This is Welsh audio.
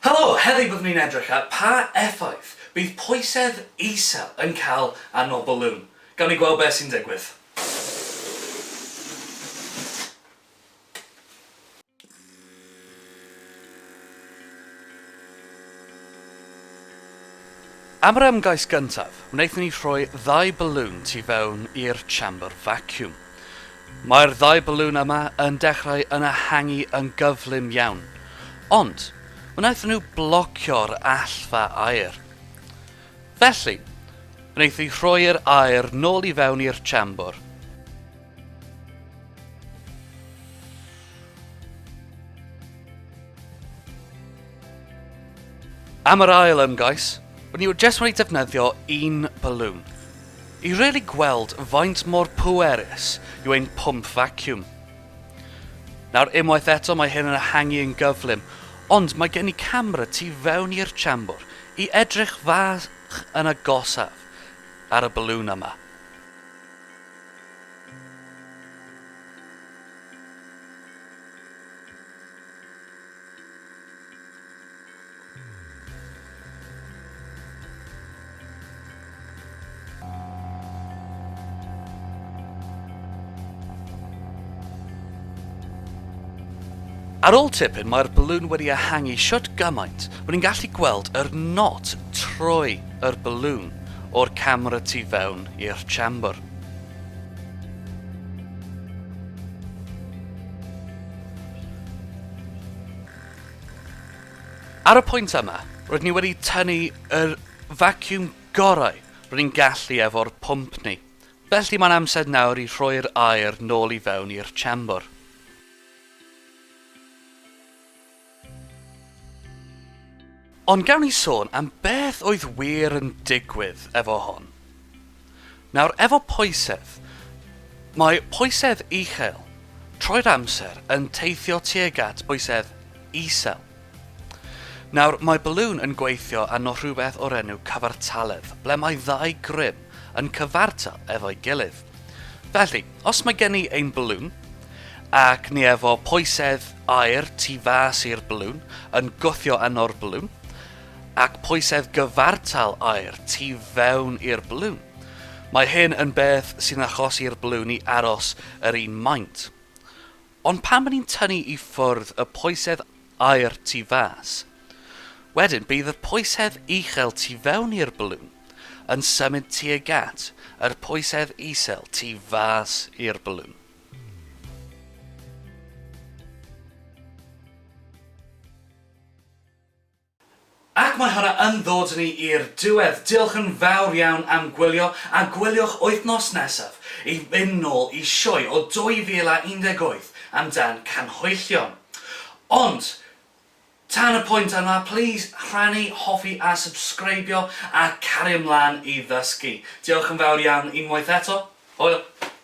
Helo! Heddiw byddwn ni'n edrych ar pa effaith bydd pwysedd isel yn cael ar nol bwlwn. Gawn ni gweld beth sy'n digwydd. Am yr ymgais gyntaf, wnaethon ni rhoi ddau bwlwn tu fewn i'r chamber vacuum. Mae'r ddau balŵn yma yn dechrau yn ehangu yn gyflym iawn, ond wnaethon nhw blocio'r allfa aer. Felly, wnaeth hi rhoi'r aer nôl i fewn i'r chamber. Am yr ail ymgais, ni jyst wedi defnyddio un balŵn. I really gweld faint mor pwerus yw ein pwmp vacuum. Nawr, unwaith eto mae hyn yn ehangu yn gyflym, ond mae gen i camera tu fewn i'r siambr i edrych fach yn agosaf ar y balŵn yma. Ar ôl tipyn mae'r balŵn wedi ehangu shwt gymaint bod ni'n gallu gweld yr not trwy yr balŵn o'r camera tu fewn i'r chamber. Ar y pwynt yma, roedd ni wedi tynnu yr vacuum gorau ro'n ni'n gallu efo'r pwmp ni, felly mae'n amser nawr i rhoi'r aer nôl i fewn i'r siambr. Ond gawn ni sôn am beth oedd wir yn digwydd efo hon. Nawr, efo poesedd, mae poesedd uchel trwy'r amser yn teithio tuag at boesedd isel. Nawr, mae balŵn yn gweithio arno rhywbeth o'r enw cyfartaledd, ble mae ddau grym yn cyfartal efo'i gilydd. Felly, os mae gen i ein balŵn, ac ni efo poesedd aer tu fas i'r balŵn yn gwthio yno'r balŵn, ac poesedd gyfartal aer tu fewn i'r balŵn, mae hyn yn beth sy'n achosi'r balŵn i aros yr un maint. Ond pan fy ni'n tynnu i ffwrdd y poesedd aer tu fas, wedyn bydd y poesedd uchel tu fewn i'r balŵn yn symud tuag at yr poesedd isel tu fas i'r balŵn. Ac mae hwnna yn ddod â ni i'r diwedd. Diolch yn fawr iawn am gwylio, a gwyliwch wythnos nesaf i fynd nôl i sioe o 2018 amdan canhwyllion. Ond, tan y pwynt yma, plîs rhannu, hoffi a subscribio, a cario mlaen i ddysgu. Diolch yn fawr iawn unwaith eto. Hwyl!